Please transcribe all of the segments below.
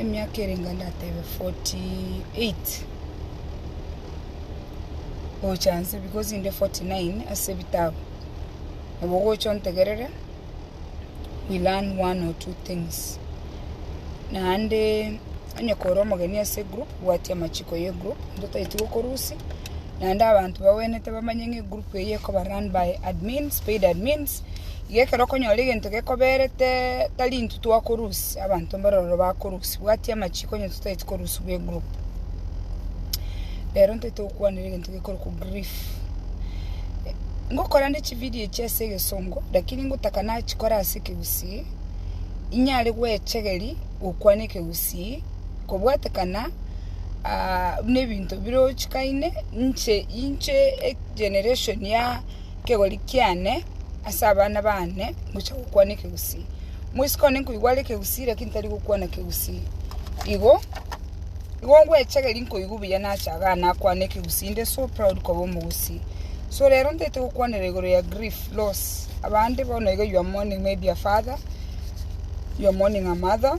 emiaka erenge ndatebe 48 gocha nse because inde 49 ase ebitabu, nabo ogocha ontegerere we learn one or two things naende onye kore omogeni ase egroup. Bwati amachiko ye group intwe taiti gokorusi naende abanto bagwenerete bamanye ng'a egroup eye ekoba run by admins, paid admins, iga ekero okonyora egento gekoberete tari intwe twakorusi abanto mbare ororo bakorusi bwati amachiko onye intwe taiti korusiwa egroup. Rero ntaiti gokwanera egento gekorokwa grief. Ngokora nde chividio echi ase egesongo lakini ngotaka nachikore ase ekegusii inyare gwechegeria gokwana ekegusii. kobwatekana aa nebinto birochikaine, inche inche egeneration ya ekegori kiane ase abana baane ngocha gokwana ekegusii. Mwesiko one nkoigwa are ekegusii lakini tari gokwana ekegusii igo, igo ngwecha geri nkoigwa buya nache iga nakwane ekegusii inde so proud koba omogusii. So rero ntaete gokwanera igoro ya grief, loss, abande bono iga you are mourning maybe a father, you are mourning a mother.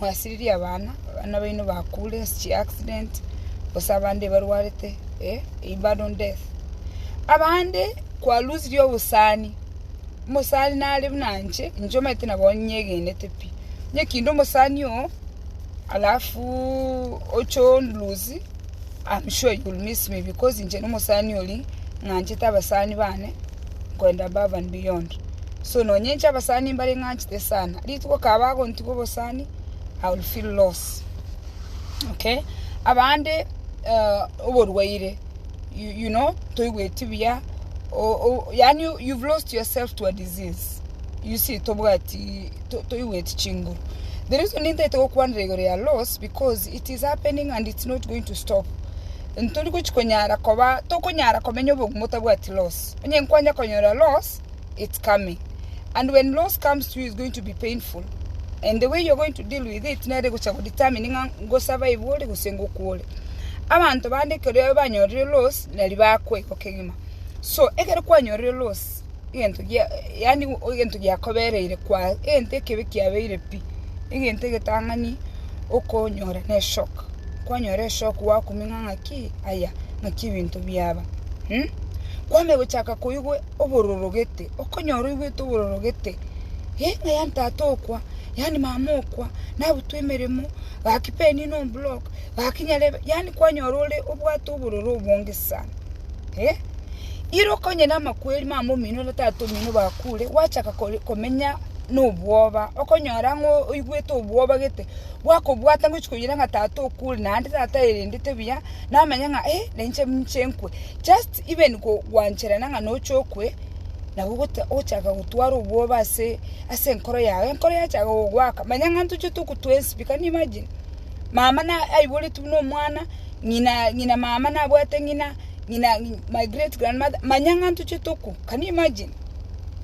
Mwasiririe abana, abana baino bakure ase chi'accident, gose abande barwarete eh, in badon death. Abande kwalusirie obosani, omosani nare buna inche, inche omanyete nabo onyegenete pi. Onye kinde omosani oo, alafu oche onlusie, am sure you will miss me because inche nomosani oria ng'anchete abasani bane. goenda above and beyond so nonya inche abasani mbare ng'anchete sana rituko kaba agontigwa obosani I will feel loss okay abande eh, oborwaire you, you know toigweti buya o- o- yani you've lost yourself to a disease you see tobwati to- toigweti chinguru the reason nintaete gokwanera igoro ya loss because it is happening and it's not going to stop ntori gochi konyara koba, tokonyara komenya obogumu botabwati loss. Onye nkwanja konyora loss, it's coming. And when loss comes to you, it's going to be painful. And the way you're going to deal with it, nere gocha go determine ng'a ngo survive ore gose ngokwa ore. Abanto bande ekero banyorire loss, nari bakwa igo kegima. So, ekero kwanyorire loss, egento gia, yaani egento giakobereire kwa, egento ekebe kiabeire pi, egento egetang'ani okonyora na eshock, kwanyora eshock gwakuming'a ng'a ki, aya, naki ebinto biaba um. Kwamanya gochaka koigwa obororogete, okonyora oigwete obororogete, eh ng'aya ntata okwa, yaani mama okwa, nabutwa emeremo, gaki penina omblock, gaki nyarebe, yaani kwanyora ore obwate obororo obonge sana. eh, ira okonye namakweri mamomino ore tata omino bakure, gwachaka kore- komenya nobwoba, okonyora ng'a oigwete obwoba gete, gwakobwata ngochi koyira ng'a tata okure, naende tata aerendete buya, namanya ng'a eh, nainche ninche nkwe, just even go- gwancherana ng'a noche okwe, nabo ogota- ogochaka gotwara obwoba ase ase enkoro yago, enkoro yachaka gogoaka, manya ng'a ntochete okotoa enswe, can you imagine. Mama na aiboretwe buna omwana, ng'ina ng'ina mama nabwate ng'ina, ng'ina my great grand mother, manya ng'a ntochete okwo, can you imagine?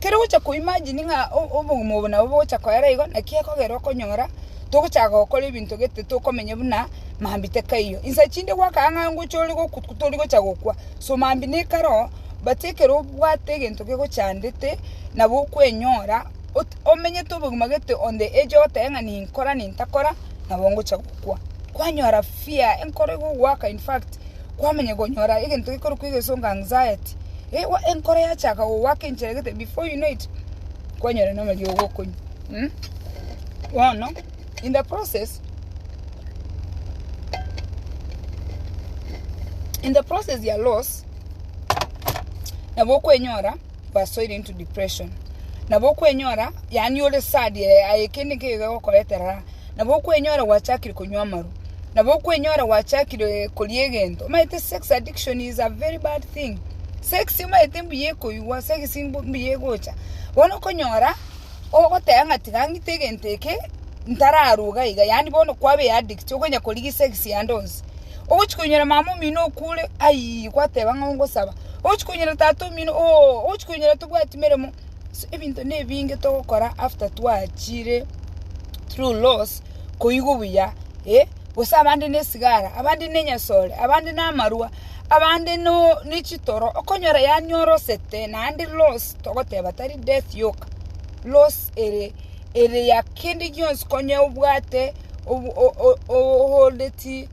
Kere ogocha ko imagine ng'a o- obogima obo nabo bogocha koera igo, naki ekogera okonyora togochaka gokora ebinto gete tokomenya buna mambi tekaiyo. Insa chinde gwakana ng'a ngocha ore goku tori gocha gokwa, so mambi nekaro oo, but ekero obwate egento gegochandete, nabo okwenyora. omenyete obogima gete onde eche ogoteba ng'a ninkora nintakora nabo ngocha gokwa. Kwanyora fear enkoro egogoaka in fact kwamanya konyora egento gekorokwa egesongo anxiety ewa enkoro yachaka gogoaka enchera gete before you know it kwanyora na amariogo okonywa mmh. Bono in the process in the process ya loss nabo okwenyora basoire into depression nabo okwenyora yaani ore sad eh, aye kende nkeyo iga egokora etarara nabo okwenyora gwachakire konywa amaru nabo okwenyora gwachakire koria egento omanyete sex addiction is a very bad thing sex omanyete mbuya ekoigwa sex mbu- mbuya egocha bono okonyora ogoteba ng'a tiga ng'ite egento eke ntararuga iga yaani bono kwabea addict okonya korigia sex yande onsi Ogochia koinyora mama omino okure, ayii, gwateba ng'a ongosaba. Ogochia koinyora tata omino ooh, ogochia koinyora tobwati meremo. So ebinto nebinge togokora after twachire through loss koigwa buya, eh, gose abande na esigara, abande na enyasore, abande na amarwa, abande noo ne chitoro, okonyora yaani orosete naende loss togoteba tari death yoka, loss ere. Eria kende gionsi konya obwate oholdeti,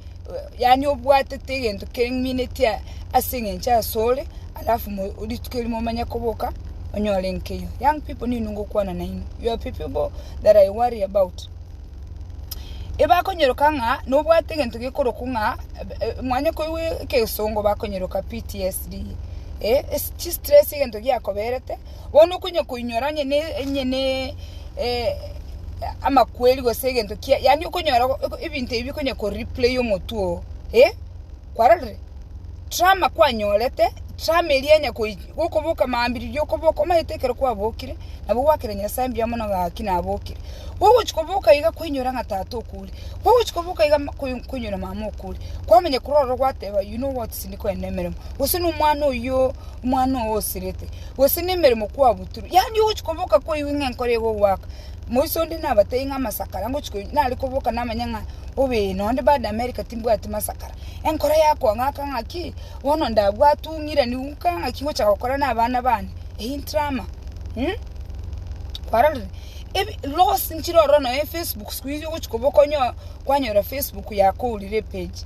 yaani obwatete egento keminetie ase engencho asore, alafu rituko erimo omanye koboka onyore nkeiyo. Young people nigo ngokwana nainwe, you are the people that I worry about. Ebakonyeroka ng'a nobwate egento gekorokwa ng'a mwanye koigwa egesongo bakonyeroka PTSD, chi stress egento giakoberete. Bono konya koinyora onye ne, onye ne eh, amakweri gose egento kia, yaani okonyora go- oko- ebinto ebi bikonya koreplay omotwe oo, eh, kwarorire? Trauma kwanyorete, trauma eria enya koi gokoboka maambiriri okoboka, omanyete ekero kwabokire, nabo gwakera Nyasae mbuya mono ng'a gaki nabokire. Gogochi koboka iga kwainyora ng'a tata okure, gogochi koboka iga ma- koi- koinyora mama okure, kwamanya korwa ororo gwateba you know what tindi koenda emeremo, gose na omwana oyio. omwana oo osirete, gose nemeremo kwabutorwe, yaani ogochia koboka kwaigwa ng'a enkoro egogoaka. Moisa onde nabatebi ng'a amasakara ngochia koigwa nare koboka namanye ng'a obe ee nonde bado America timbwati masakara, enkoro yakoa ng'aka ng'aki, bono ndabwate ong'iranigwe nka ng'aki ngochia gokora na abana bane, eyio ntrama kwarorire? Ebi loss nchire ororo nonye Facebook siku hizi ogochia koboka onye kwanyora Facebook yakourire epage.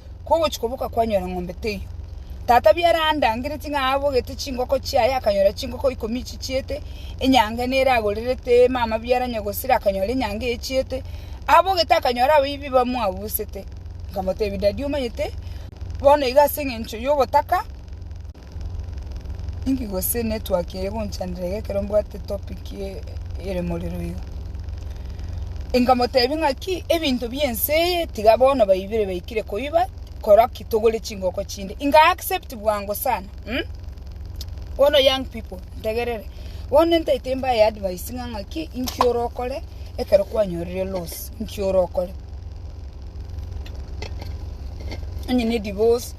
Kogochia koboka kwanyora ng'ombe teiyo. Tata biara andangereti ng'a abogete chingoko chiaye akanyora chingoko ikomi chichiete, enyango ene ere agorerete mama biara nyagosira akanyora enyango eye echiete, abogete akanyora abaibia bamwabusete. Nkamotebia, Dadi omanyete, bono iga ase engencho y'obotaka. Inki gose netwakire gonchandera iga ekero mbwate topic ere morero iga? Inkamotebia ng'a ki ebinto bi'ense eye tiga bono baibire baikire koiba kora ki togore chingoko chinde. Inga accept bwango sana. Mm? Bono young people, ntegerere. Bono ntaete mbaye advice ng'a ng'a ki inki ore okore ekero kwanyorire loss, inki ore okore. Onye ne divorce,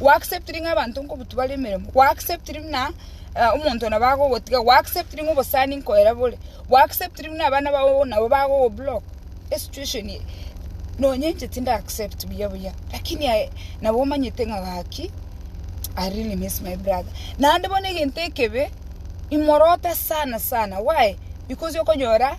Gw'acceptiri ng'a abanto nkobutwa bare emeremo, gw'acceptiri buna omonto nabo agogotiga, gw'acceptiri ng'a obosani nkoera bore, gw'acceptiri buna abana bao nabo bagogoblock, esituation eye nonya inche tindi accept buya buya, rakini aye nabo omanyete ng'a gaki I really miss my brother. Naende bono egento ekebe, imorote sana sana, why? Because okonyora.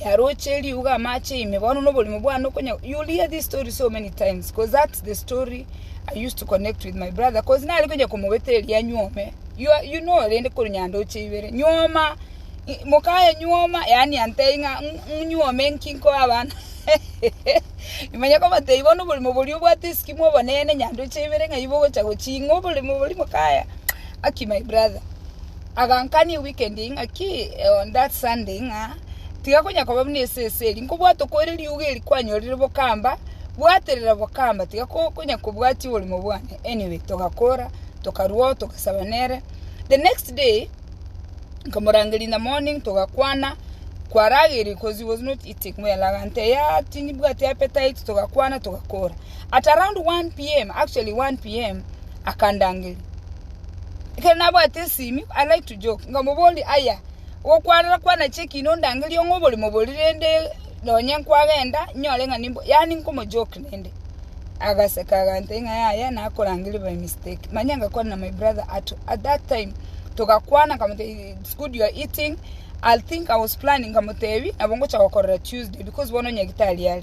e aroche eriuga amache ime bono na oborimo bwane okonya you will hear this story so many times cause that's the story I used to connect with my brother cause nari konya komobeta eria nyuome you, are- you know rende kore nyandoche ibere nyuoma i- mokaye nyuoma yaani antei ng'a "Ng- ng- nyuoma enki nkoe abana imanye kobatebia bono oborimo boria obwate esiki mobonene nyandoche ibere ng'a ibogocha gochia ing'o oborimo boria mokaya Aki my brother Agankania weekend eye ng'aki on that Sunday ng'a tiga konya koba buna esese eri nkobwate okoira riuga eri kwanyorire bokamba bwaterera bokamba tiga ko konya kobwatia oborimo bwane anyway togakora tokarwao togasaba nere the next day nkamorangeria in the morning togakwana kwarageire cause he was not eating well agante yaah timbwati appetite togakwana togakora at around 1 pm actually 1 pm akandangeria. Ekero nabwate ensimi, I like to joke, nkamoboria, Aya, gokwanera kwanachia ekina ondangerie ong'e oborimo boria rende nonye nkwagenda nyore ng'a nimbo yaani nkomo joke rende. Agaseka agantebia ng'a yaya nakorangeria by mistake. Manya ngakwana na my brother at, at that time togakwana nkamotebia it's good you are eating, I'll think, I was planning nkamotebia nabo ngocha gokorora Tuesday because bono onye gitari are.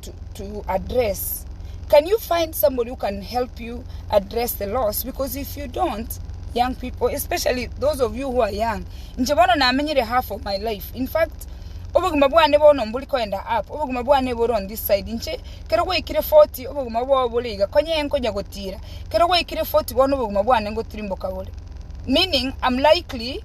to, to address can you find somebody who can help you address the loss because if you don't young people especially those of you who are young nche bono namenyire half of my life in fact obogima bwane bono mbori koenda up obogima bwane bore on this side nche kero gwaikire 40 obogima bwao bore iga konya enkonya gotira kero gwaikire 40 bono obogima bwane ngotirimboka bore meaning i'm likely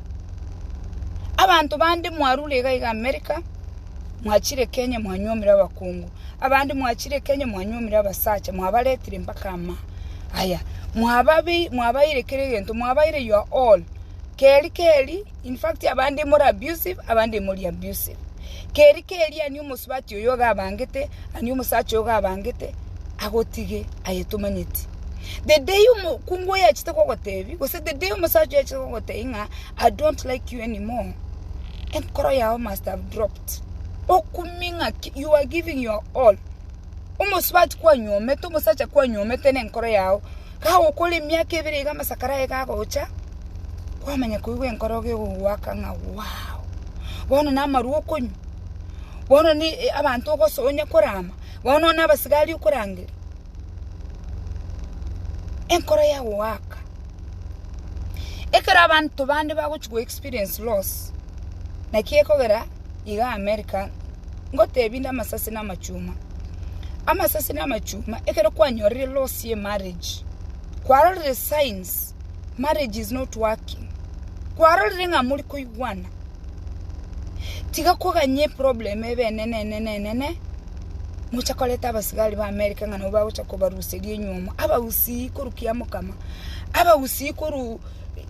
Abanto bande mwarure iga iga Amerika, mwachire Kenya mwanyuomire abakungu, abande mwachire Kenya mwanyuomire abasacha, mwabaretire mpaka ama aya, mwabaire kera egento, mwabaire your all, keri keri, in fact abande more abusive, abande imori abusive, keri keri ani omosubati oyo iga abangete, ani omosacha oyo iga abangete, agotige, aye tomanyeti. The day omokungu oyo achete kogotebia, gose the day omosacha oyo achete kogotebia ng'a I don't like you anymore, enkoro yao must have dropped. Okumie ng'aki you are giving your all. Omosubati kwanyomete, omosacha kwanyomete na enkoro yao, gagokora emiaka ebere iga amasakara aye gagocha, kwamanya koigwa enkoro iga egogoaka ng'a wow. Bono na amarwa okonywa, bono ne abanto ogosoa onye korama, bono na abasigari okorangeria. enkoro ya goaka. Ekero abanto bande bagochia go experience loss, naki ekogera iga America ngotebi nde amasasi na amachuma. Amasasi na amachuma ekero kwanyorire loss ye marriage, kwarorire signs marriage is not working, kwarorire ng'a mori koigwana. Tiga koganya eproblem ebe enene enene enene, mocha koreta abasigari ba America ng'a nabo bagocha kobaruseria enyiomo, abagusii korwa Kiamokama, abagusii korwa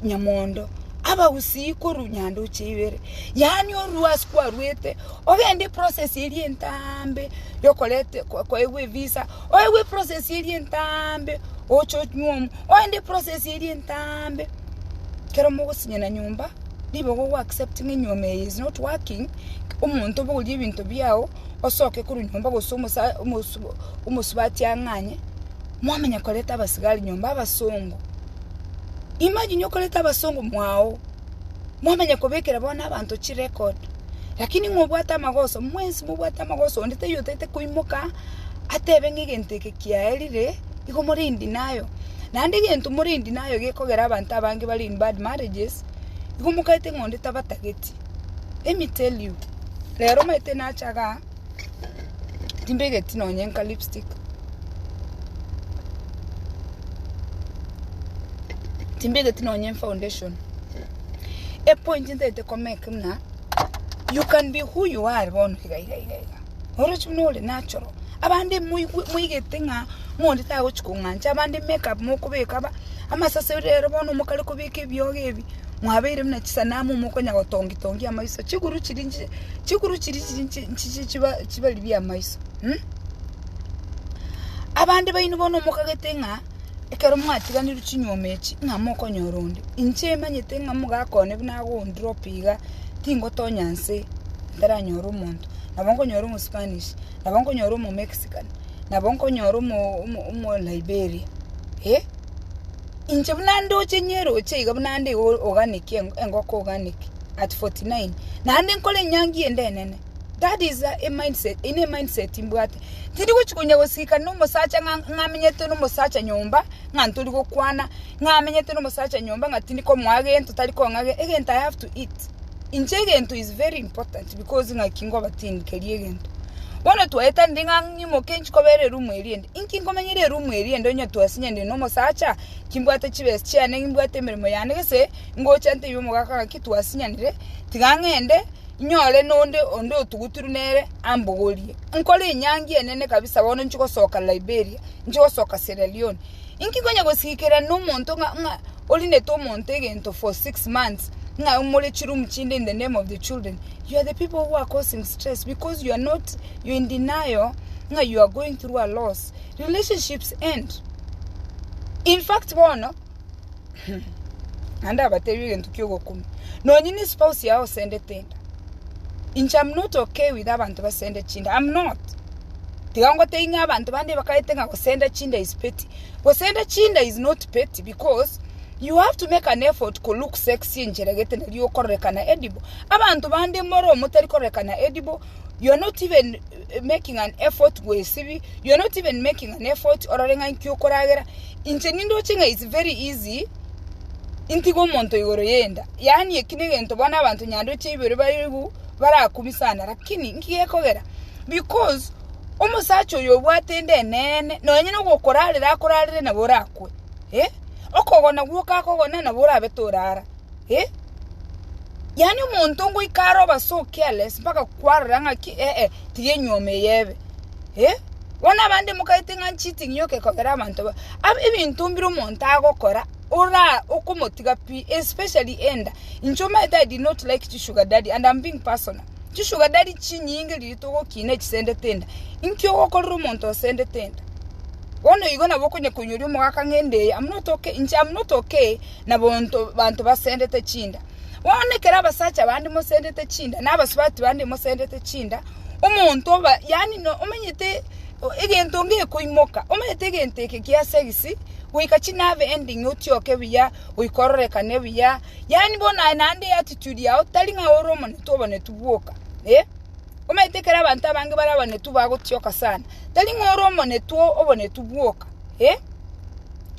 Nyamondo, abagusii korwa Nyandoche ibere, yaani orue ase kwaruete, ogende eprocess eria entaambe ya okoreta koegwa evisa, oegwe eprocess eria entaambe oche onyuomo, ogende eprocess eria entaambe kero mogosinyana nyomba. Nigo go acceptinge nyuoma eye is not working omonto obogorie ebinto biao osoke korwa nyomba gose omosubati ang'anye mwamanya koreta abasigari nyomba abasongo imagine okoreta abasongo mwao mwamanya kobekera bono abanto chirecord lakini ng'a obwate amagoso mwensi mobwate amagoso onde taiyo otaete koimoka atebe ng'a egento eke kiaerire. igo more in denial, naende egento more in denial gekogera abanto abange bare in bad marriages, igo mokaete ng'a onde tabatageti, let me tell you, rero omanyete nache igaa, timbegeti nonya nka lipstick, timbegeti nonya efoundation, epointi ntagete komake muna, you can be who you are bono iga iga iga iga. Oroche buna ore natural. Abande moigwe moigete ng'a omonto tagochia kong'ancha, abande make up mokobeka ba, amasase rero bono mokare kobeka ebiogo ebi, mwabeire buna chisanamu mokonya gotongi tongi amaiso, chiguru chiria nchi chiguru chiria chiri nchi nchi chi chiba chibariri amaiso, mh. Abande baino bono mokagete ng'a. Ekero mwatiganirwe chinyuoma echi, ng'a mokonyora onde? Inche imanyete ng'a mogakone buna agoundire ope iga, tingotonya nse ntaranyore omonto. Nabo nkonyora omospanish, nabo nkonyora omomexican, nabo nkonyora omo omo omoliberia, eh. Inche buna ndoche ng'eroche iga buna nde o- organic engo- engoko organic at forty nine, naende nkore enyangi ende enene. That is a mindset, eye ne mindset mbwate. Tindi gochi konya gosika no mosacha ng'a ng'amenyete no mosacha nyomba, ng'a ntori gokwana, ng'a amenyete no mosacha nyomba ng'a tindi komoa gento tari kong'a ge egento I have to eat. Inche egento is very important because ng'aki ngoba tindi keri egento. Bono twaetanire ng'a ng'imoke nchi kobera eroom eria ende, inki nkomenyera eroom eria ende onye twasinya inde no mosacha, kimbwate chibesa chiane, nimbwate emeremo yane gese, ngocha ntebi omogaka ng'aki twasinyanire, tiga ng'ende. inyore nonde onde otuguturu nere ambogorie. Nkore enyangi enene kabisa bono nchigosoka Liberia, nchigosoka Sierra Leone. Inki nkonya gosikera nomonto ng'a ng'a orinete omonto egento for six months, ng'a more chiroom chinde in the name of the children. You are the people who are causing stress because you are not, you are in denial ng'a you are going through a loss. Relationships end. In fact bono. naende abateebie egento ki'ogokumia, nonye nespouse yao osendete enda, inche am not okay with abanto basende chinda, am not, tiga ngotebie ng'a abanto bande bakaete ng'a gosenda chinda is petty, gosenda chinda is not petty because you have to make an effort ko look sexy enchera gete nario okororekana edible, abanto bande more omotari kororekana edible. you are not even eh, making an effort gwesibi you are not even making an effort orore ng'a inki okoragera inche nindoche ng'a it's very easy intiga omonto igoro yenda yaani eki negento bono abanto nyandoche ibere baigu barakumi sana lakini nki gekogera because omosacha oyo obwate ende eneene nonye nogokorarera akorarere nabo orakwe eh? okogona gwoka akogona nabo orabe torara eh yaani omonto ngoika are obe so careless mpaka kwarora ng'aki eh tiga enyiomi eye ebe eh. Bono abande mokaete ng'a cheating yoka ekogera abanto ba ab ebinto mbire omonto agokora ora okomotiga pi especially enda inche omanyete I did not like chi sugar daddy and am being personal chi sugar daddy chinyinge riria togokina chisendete enda inki ogokorera omonto osendete enda bono igo nabo okonya koinyora omogaka ng'a enda eye am not okay inche am not okay na banto basendete chinda. Bono ekero abasacha bande mosendete chinda, na abasubati bande mosendete chinda, omonto oba, yaani no omenyete egento ngekoimoka, omenyete egento eke kia segisi, goika chinave ending otioke buya, goika ororekane buya, yaani bono aye naende attitude yao tari ng'a ore omonetwe obonetu bwoka, eh. Omenyete ekero abanto abange bare abanetu bagotioka sana, tari ng'a ore omonetwe obonetu bwoka, eh,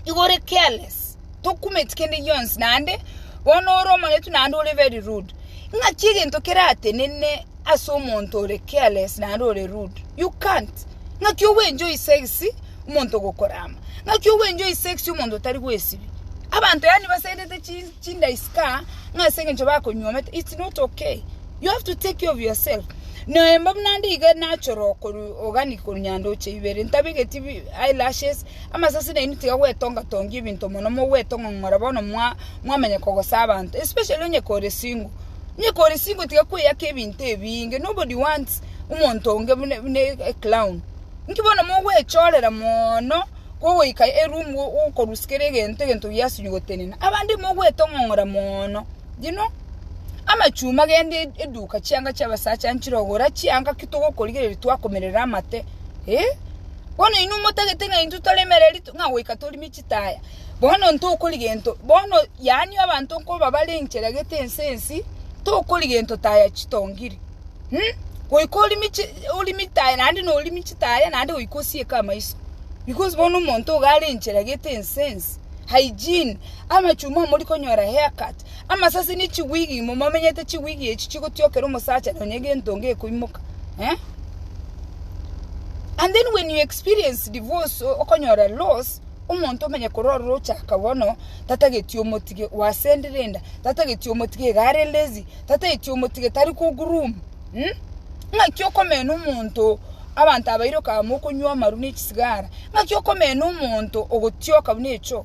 igo ore careless. tokumeti kende gionsi naende bono ore omoretu naende ore very rude. Ng'aki egento keratenene ase omonto ore careless naende ore rude. You can't. Ng'aki o enjoy sex omonto ogokorama. Ng'aki o enjoy sex omonto otari gwesibia. Abanto yaani basendete chi chinda isika ng'a ase eng'encho bakonyuomete it's not okay. You have to take care of yourself. Noyo mbabu naende iga natural korwa organic korwa nyandoche ibere ntabegeti bi eyelashes Amasasi nainwe tiga gwetonga tongia ebinto mono mogwetong'ong'ora bono mwa mwamanya kogosa abanto especially onye kore single onye kore single tiga kweyaka ebinto ebinge nobody wants omonto onge buna buna e clown inki bono mogwechorera moono kogoika eroom o okorus kera egento egento giasinye gotenena abande mogwetong'ong'ora moono you know amachuma gende e eduka chianga chiabasacha nchire ogora chianga ki togokorigereria twakomerera amate. Eh, bono inwe motagete ng'a intwe tore emereri to- ng'a goika torime chitaya. Bono ntokori gento, bono yaani abanto nkobabare enchera gete ense ensi, tokori gento taya chitongiri. Hm, goika orime chi- orime etaya naende norime chitaya naende goika osieke amaiso. Because bono omonto iga are enchera gete ense ensi, hygiene, amachuma amorikonyora haircut. Amasasi ne chigwigi imo momenyete chigwigi echi chigotiokera omosacha nonya egento onge ekoimoka eh? and then when you experience divorce okonyora loss omonto omenye korora ochaka bono tatageti omotige wasendire enda tatageti omotige iga are lazy tatageti omotige tari ko groom mm? ng'aki okomena omonto abanto abairoka amo okonywa amaru ne chisigara ng'aki okomena omonto ogotioka buna echo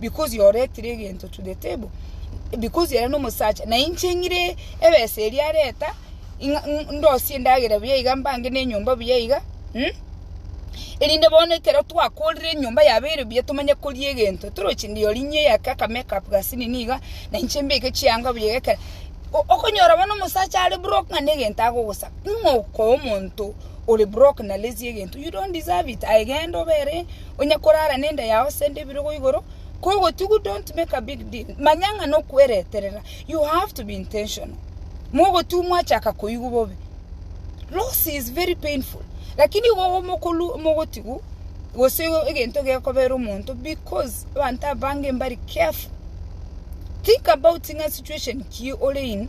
because you oretire egento to the table, because ere nomosacha, na inche ng'ire ebesa eria areta, ng'a- ng- ndosie endagera buya iga mbange na enyomba buya iga, mh? erinde bono ekero twakorire enyomba yabeire buya tomanye koria egento, toroche ndio rinyia eyake aka make up gasi nini iga, na inche mbeke chianga buya iga ekero o- okonyora bono omosacha are broke ng'a negento agogosaba, ng'o okoa omonto ore broke na lazy egento, you don't deserve it, aye genda obere. onye korara nenda yao sende ebirogo igoro kogotigu don't make a big deal manya ng'a nokwereterera you have to be intentional mogotigu mwachaka koigwa bobe loss is very painful lakini igo omokoru mogotigu gose egento gekobera omonto because abanto abange mbare careful think about ng'a situation ki ore in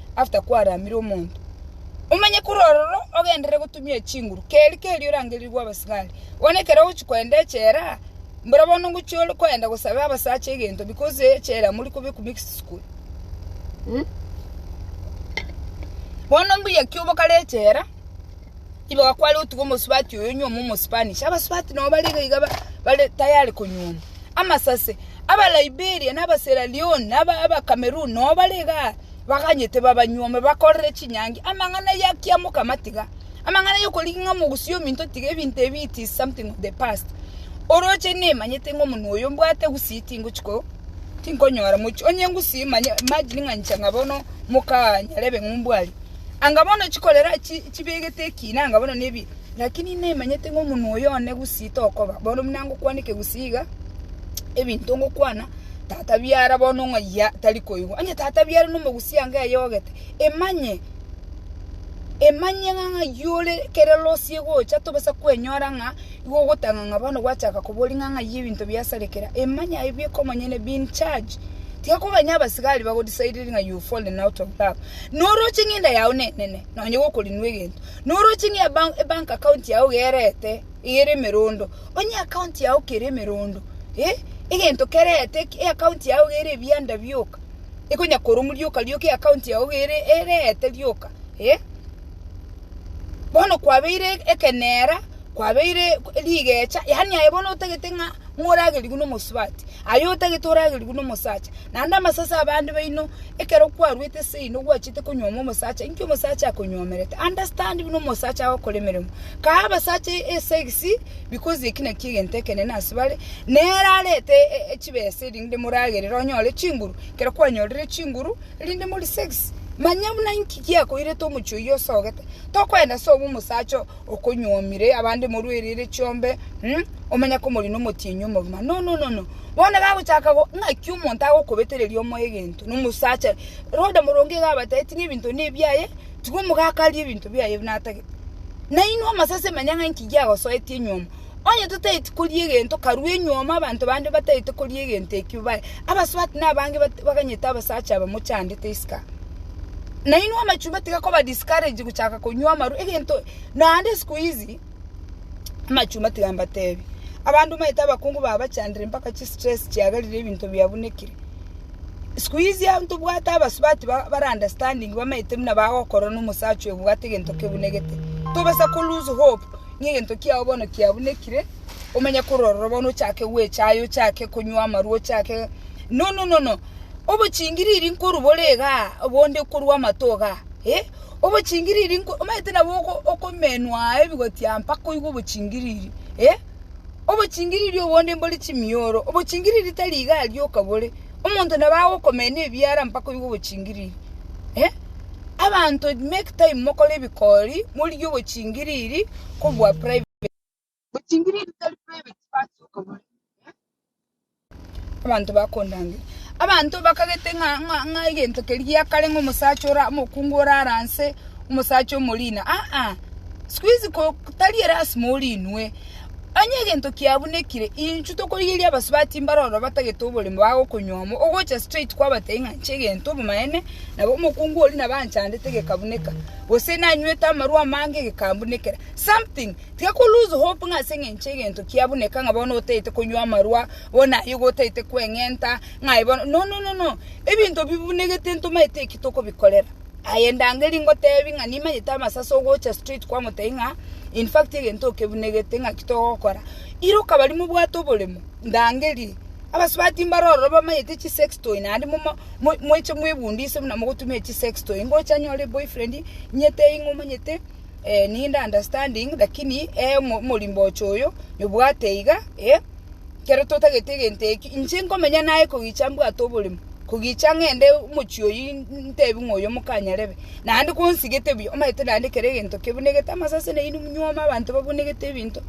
after kwaramire omonto. Omanye korwa ororo ogenderere gotumia chinguru keri keri orangerirwe abasigari. Bono ekero ogochi koenda echela mbora bono ngochi ore koenda gosabe abasacha egento because echela mori kobekwa mixed school. Bono mbuya ki obokare echela igo kware otuge omosubati oyo onyuome omospanish. Abasubati nabo bare iga iga bare tayari konyuoma. Amasase, aba Liberia na aba Sierra Leone na aba Cameroon nabo bare igaa. baganyete babanyuome, bakorere chinyangi amang'ana y'ekiamo okamatiga, amang'ana y'okorigia ng'a mogusie ominto tiga ebinto ebi it is something of the past. Oroche nemanyete ng'a omonwe oyo mbwate gusii tingochi ko tinkonyora mochi onye ngusii manye imagine ng'a inche ng'a bono mokaa nyarebe ng'a ombwari. Anga bono chikorera chi chibegete ekina anga bono nebi. Naki nimanyete ng'a omonwa oyo one gusii tokoba. Bono buna ngokwaneke gusii iga, ebinto ngokwana tata biara bono ng'ayia tari koigwa. Onye tata biara nomogusii ango eyogete, emanye, emanye ng'a ng'ayio ore kere losi egocha tobasa kwenyora ng'a igo ogotanga ng'a bono gwachaka koboria ng'a ng'ayio ebinto biasarekera. Emanye aye bieka omonyene, be in charge. Tiga koganya abasigari bago decide ng'a you fallen out of love. Noroche ng'enda yago nenene, nonye gokorinwa egento. Noroche ng'a ebank account yao gerete ere emerondo, onye account yao kere emerondo, egento kerete eaccount yao gere ebianda bioka, ekonya koromwa rioka rioka eaccount yao gere erete rioka, bono kwabeire ekenera. kwabeire rigeecha, yaani aye bono otagete ng'a moragerigwe nomosubati, aye otagete oragerigwe nomosacha. Naende amasase abande baino, ekero kwaruete seino gwachiete konyuoma omosacha, inki omosacha akonyuomerete? Understand buna omosacha agokora emeremo. Kae abasacha esegisi, because eki nakio egento ekenene ase bare, nere arete chibesa erinde moragerere onyore chinguru, ekero kwanyorire chinguru, erinde morisegisi. Manya buna inki giakoirete omochie oyio osogete, tokoenda sobe omosacha oo. okonyuomire abande morwa erere chiombe, mm, omanya komorina omotienyi omogima. No, no, no, no. Bono gagochaka go, ng'aki omonto agokobetereria omoyo egento, na omosacha, Rhoda moronge iga abateeti ng'a ebinto nebiaye, tiga omogaka arie ebinto biaye natagete. Nainwe amasase manya ng'a inki giagosoetie nyuomo. Onye totaeti koria egento, karue nyuoma abanto bande bataete koria egento ekio baye. Abasubati na abange bat- baganyete abasacha aba mochandete isiko. Nainwe amachumba tiga koba discourage gochaka konywa amarwa, egento naende siku hizi, amachumba tiga mbatebi, abande omanyete abakungu babachandire mpaka chi stress chiagarire ebinto biabunekire. Siku hizi an- ntobwate abasubati ba- bara understanding bamanyete buna bagokorora na omosacha oyo obwate egento kebunegete. Tobasa ko lose hope. Ng'a egento kiao bono kiabunekire, omanye kororerwa bono, ochake gwechaya, ochake konywa amarwa, ochake nono nono, obochingiriri nkorwa bore igaa, bonde korwa amato igaa, eh, obochingiriri nko omanyete nabo oko- okomenwa ebigotia mpaka oigwe obochingiriri, eh, obochingiriri obonde mbore chimioro, obochingiriri tari igaa rioka bore, Omonto nabo agokomenya ebiara mpaka oigwe ogochingiriri. Eh? Abanto make time mokore ebikori, morigie ogochingiriri kobua private. Ogochingiriri tari private basi okobore. Eh? Abanto bakondangera. Abanto bakagete ng'a ng'a ng'a egento keria gia kare ng'a omosacha ora omokungu orare anse, omosacha omorina. Aa, siku hizi ko tari erasima orinwe. Onye egento kiabunekire, inchwe tokorigereria abasubati mbare oro batagete oborimo bagokonywomwa, ogocha straight kwabatebia ng'a nche egento obomaene, nabo omokungu oria nabo anchandete gekabuneka, gose nanywete amarwa amange gekambunekera. Something, tiga ko lose hope ng'a ase eng'encho egento kiabuneka ng'a bono otagete konywa amarwa, bono aye igo otagete kweng'enta, ng'a aye bono, no no no no, ebinto bibunegete ntomanyete eki tokobikorera. Aye ndangeri ngotebi ng'a nimanyete amasaso ogocha straight kwa motebi ng'a in fact egento okebunegete ng'aki togokora. Iroka bari mobwate oboremo ndangeri abasubati mbare ororo bamanyete chi sex toy naende momo mweche mwebundise buna mogotumia chi sex toy ngocha nyore boyfriend nyetebi ng'a omanyete ninde understanding lakini omorimba ochoyo nyobwate iga. ekero totageti egento eki, inche nkomenya naye kogicha mbwate oborimo, kogicha ng'ende omochie oyio ntebi ng'a oyo mokanyarebe, naende konsegete buya, omanyete naende kera egento kebunegete amasase na inwe monyuoma abanto babunegete ebinto,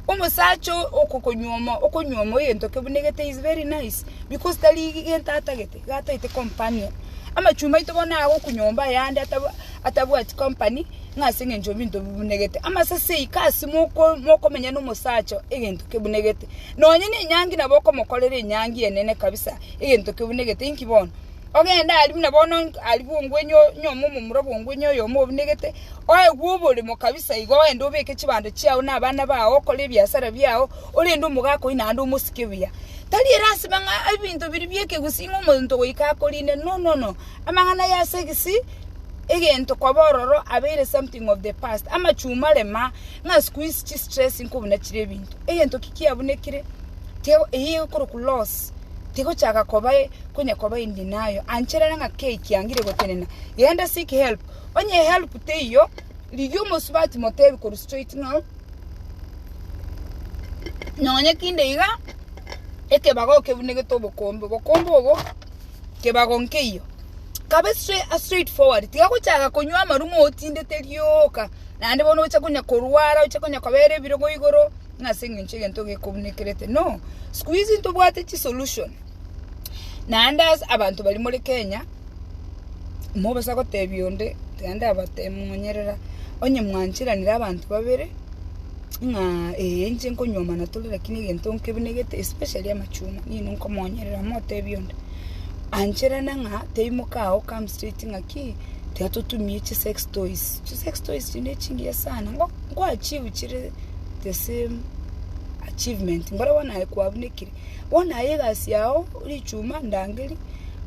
omosacha oo okokonyuoma okonyuoma egento kebunegete is very nice, because tari gento atagete iga ataete companion. Amachumba aito bono agoku nyomba yande ataba. atabwati company, ng'a ase engencho y'ebinto bibunegete. Amasase aya ika ase moko mokomenya nomosacha egento kebunegete. Nonye ne enyangi nabo okomokorera enyangi enene kabisa egento kebunegete. Inki bono? Ogende aria buna bono nk aria bongwenye o nyome omomura bongwenye oyomo obunegete, oegwe oboremo kabisa iga ogende obeke chibando chiago na abana bao okore ebiasara biago, orende omogaka oyio naende omosike buya. Tari erasima ng'a ebinto biria biekegusii ng'a omonto goika akorinde, no, no, no. Amang'ana ya segisi, egento koba ororo abeire something of the past. Amachuma rema ng'a sikuisi chistress nko buna chire ebinto. Egento ki kiabunekire tiga eyio egokoroku loss tigochaka koba konya koba in denial. Ancherere ng'a kei kiangire gotenena? Genda seek help. Onye help teiyo, rigia omosubati motebi korwa straight ng'a nonyekinde iga ekebago okebunegeto obokombe. Obokombe obo. kebago nkeiyo kabe straight forward tiga gochaka konywa amaruma otindete rioka naende bono oche konya korwara oche konya kobera ebirogo igoro ng'a ase eng'encho egento gekobunekerete no sikuizi ntobwate chisolution naende ase abanto baria more kenya mobosa gotebia onde tiga ndabatebie monyerera onye mwancheranire abanto babere. Ng'a ee inche nkonywa amana tore lakini egento nkebenegete especially amachungwa nigo nkomonyerera motebie onde ancherane ng'a teimoka agho come straight ng'a ki tiga totumie chi sex toys, chi sex toys echi nechingiya sana ngo nko achieve chire the same achievement mboro bono aye kwabunekire bono aye egasi yao richuma ndangeri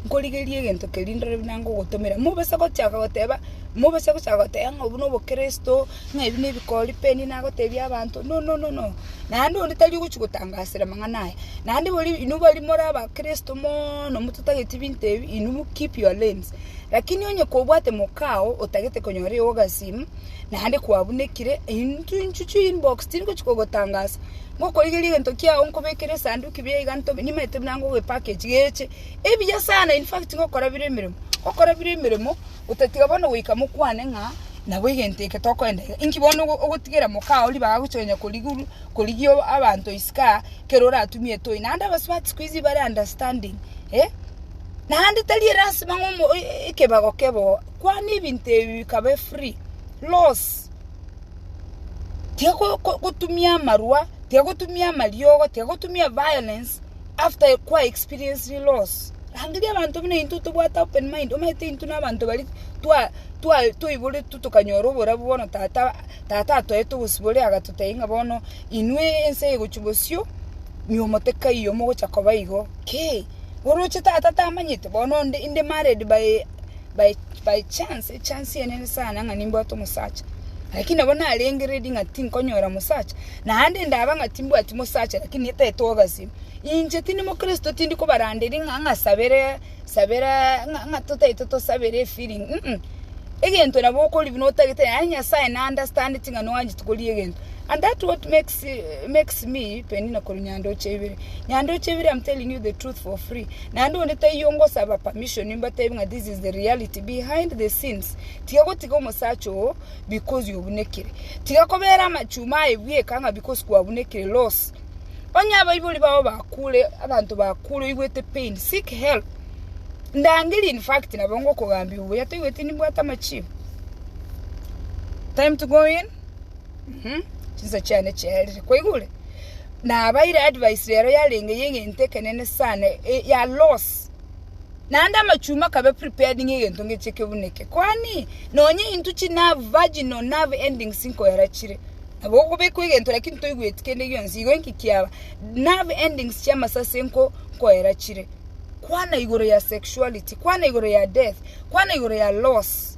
nkorigerie egento keria ndore buna ngogotomera mobisa gochaka goteba mobisa gochaka goteba ng'a obo nobokristo. Ng'a ebi nebikori peni nagotebia abanto, Nononono, naende onde tari ogochia gotangasera amang'ana aya. Naende bori inwe baria more abakristo mono mototageti binto ebi, inwe keep your lanes. Lakini onye kobwate moka oo otagete konyora eogo ase ime, naende kwabunekire, intwe inchuo chia inbox tingochia kogotangasa, ngokorigeria egento kiago nkobekere esanduki buya iga ntobe, nimanyete buna ngogoepackage geche ebuya sana, in fact ngokora bire emeremo, ngokora bire emeremo. Otatiga bono goika mokwane ng'a nabo egento eke tokoenda iga. Inki bono ogotigera mokao ribaga gocha konya koriguru- korigia abanto isiko aa, ekero oratumie etoy? Naende abasubati siku hizi bare understanding, eh. Naende tari elasima ng'a omo- e- e- ekebago kebe oo, kwana ebinto ebi bikabe free, loss. Tiga ko- ko- gotumia amarwa, tiga gotumia amariogo, tiga gotumia violence. after kwa experienced loss, rangeria abanto buna intwe tobwate open mind, omanyete intwe na abanto bari twa twa toiboretwe tokanyora oborabu bono tata tata atoete obosibore agatotebia ng'a bono inwe ense egochia bosio, nyiomo tekaiyo mogocha koba igo, kei, oroche tata tamanyete bono onde inde married by. by by chance echance eye nere sana ng'a nimbwate omosacha, lakini nabo narenge ready ng'a tinkonyora omosacha, naende ndaba ng'a timbwati mosacha lakini netaete togasie, inche tindi mokristo tindi kobaranderia ng'a ng'a sabere sabera ng'a ng'a totaete tosabere efeeling uh egento nabo okorigia buna otagete, yaani Nyasaye na understandeti ng'a noanchete koria egento and that what makes. She makes me Penina korwa Nyandoche ibere. Nyandoche ibere I'm telling you the truth for free. Naende onde taiyo ngosaba permission imbatebe ng'a this is the reality behind the scenes. Tiga gotiga omosacha oo because yobunekire. Tiga kobera amachuma aye bweka ng'a because kwabunekire loss. Onye abaibori bao bakure, abanto bakure oigwete pain, seek help. Ndangeri in fact nabo ngokogambia obuya toigweti nimbwate amachibo. Time to go in. Mhm, chinsa chiane chiarire. Kwaigure? Nabaire advice rero yarenge y'egento ekenene sana, e- ya loss. Naende amachuma akabe prepared ng'a egento ngeche kebune eke. Kwani, nonye intwe chinerve, virginal nerve endings nkoera chire, nabo okobekwa egento lakini toigweti kende gionsi, igo inki kiaba? Nerve endings chi'amasasi nko nkoera chire. Kwana igoro ya sexuality, kwana igoro ya death, kwana igoro ya loss.